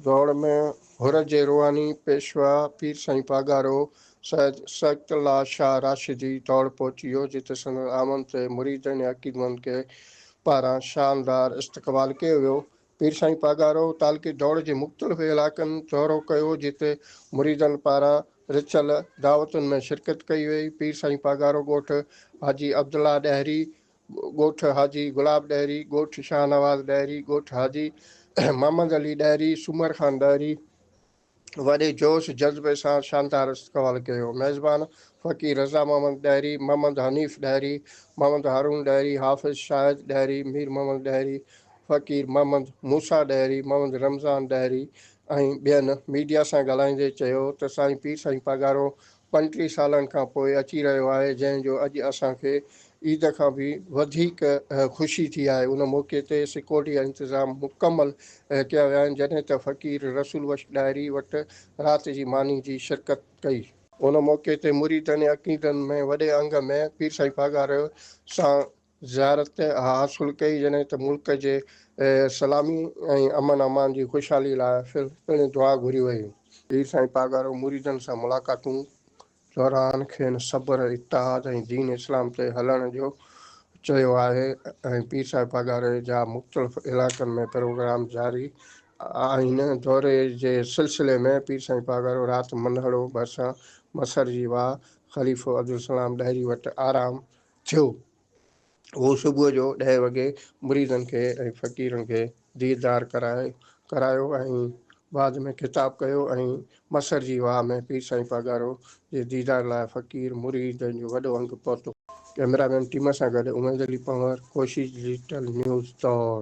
ڊوڙ ۾ حر جي روحاني پيشوا پير سائين پاڳارو سيد سعدت الله شاهه راشدي ڊوڙ پهچي ويو جتي سندس آمد تي مريدن ۽ عقيدمندن کي پاران شاندار استقبال ڪيو ويو پير سائين پاڳارو تعلقي ڊوڙ جي مختلف علائقن دورو ڪيو جتي مريدن پاران رٿيل دعوتن ۾ شرڪت ڪئي وئي، پير سائين پاڳارو ڳوٺ حاجي عبدالله ڏهري، ڳوٺ حاجي گلاب ڏهري، ڳوٺ شاهنواز ڏهري، ڳوٺ حاجي محمد علي ڏهري، سومر خان ڏهري، وڏي جوش جذبي سان شاندار استقبال ڪيو. ميزبان فقير رضا محمد ڏهري، محمد حنيف ڏهري، محمد هارون ڏهري، حافظ شاهد ڏهري، مير محمد ڏهري، فقير محمد موسيٰ ڏهري، محمد رمضان ڏهري ۽ ٻين ميڊيا سان ڳالهائيندي چيو ته سائين پير سائين پاڳارو پنجٽيهه سالن کان پوء اچي رهيو آهي جنهن جو اڄ اسان کي عيد کان به وڌيڪ خوشي ٿي آهي ان موقعي تي سڪيورٽي جا انتظام مڪمل ڪيا ويا آهن جڏهن ته فقير رسول بخش ڏاهري وٽ رات جي ماني جي شرڪت ڪئي. ان موقعي تي مريدن ۽ عقيدن ۾ وڏي انگ ۾ پير سائين پاڳاريو سان زيارت ۾ اها حاصل ڪئي جڏهن ته ملڪ جي سلامي ۽ امن امان جي خوشحالي لاء پڻ دعا گهري وئي. پير سائين پاڳارو مريدن سان ملاقاتون دوران کين صبر، اتحاد ۽ دين اسلام تي هلڻ جو چيو آهي ۽ پير سائين پاڳاري جا مختلف علائقن ۾ پروگرام جاري آهن، دوري جي سلسلي ۾ پير سائين پاڳارو رات منهڙو ڀرسان مسر جي واهه خليفو عبدالسلام ڏاهري وٽ آرام ٿيو. هو صبح جو ڏهه وڳي مريدن کي ۽ فقيرن کي ديدار ڪرايو ۽ بعد ۾ خطاب ڪيو ۽ مسر جي واهه ۾ پير سائين پاڳارو جي ديدار لاء فقير مريدن جو وڏو انگ پهتو. ڪئميرا مين ٽيم سان گڏ عميد علي پنهور، ڪوشش ڊجيٽل نيوز، دور.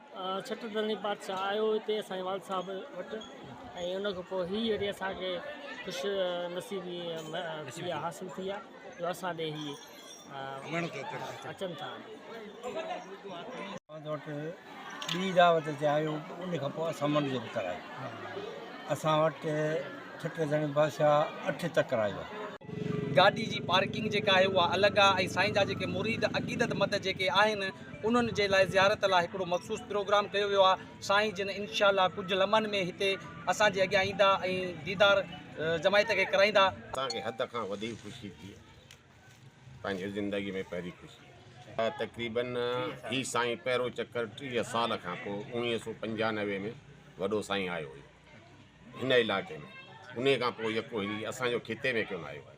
ڇٽ دلين بادشاهه آيو هتي اسان جي والد صاحب وٽ ۽ ان کان پوء هي اهڙي اسان کي خوش نصيبي اها حاصل ٿي آهي جو اسان ڏي هي اچن ٿا. والد وٽ ٻي دعوت تي آيو ان کان پوء اسان منڍ جو پتر آهي اسان وٽ ڇٽ دلين بادشاهه اٺ تڪر آيو آهي. گاڏي جي پارڪنگ جيڪا آهي اها الڳ آهي ۽ سائين جا جيڪي مريد عقيدت مند جيڪي آهن انهن جي لاء زيارت لاء هڪڙو مخصوص پروگرام ڪيو ويو آهي سائين جن انشاء الله ڪجهه لمحن ۾ هتي اسان جي اڳيان ايندا ۽ ديدار جماعت کي ڪرائيندا. اسان کي حد کان وڌيڪ خوشي ٿي پنهنجي زندگي ۾ پهرين خوشي آهي تقريباً هي سائين پهرو چڪر ٽيهه سال کان پوء اوڻيهه سو پنجانوي ۾ وڏو سائين آيو هيو هن علائقي ۾ انهي کان پوء يڪو هيري اسان جو خطي ۾ ڪونه آيو آهي.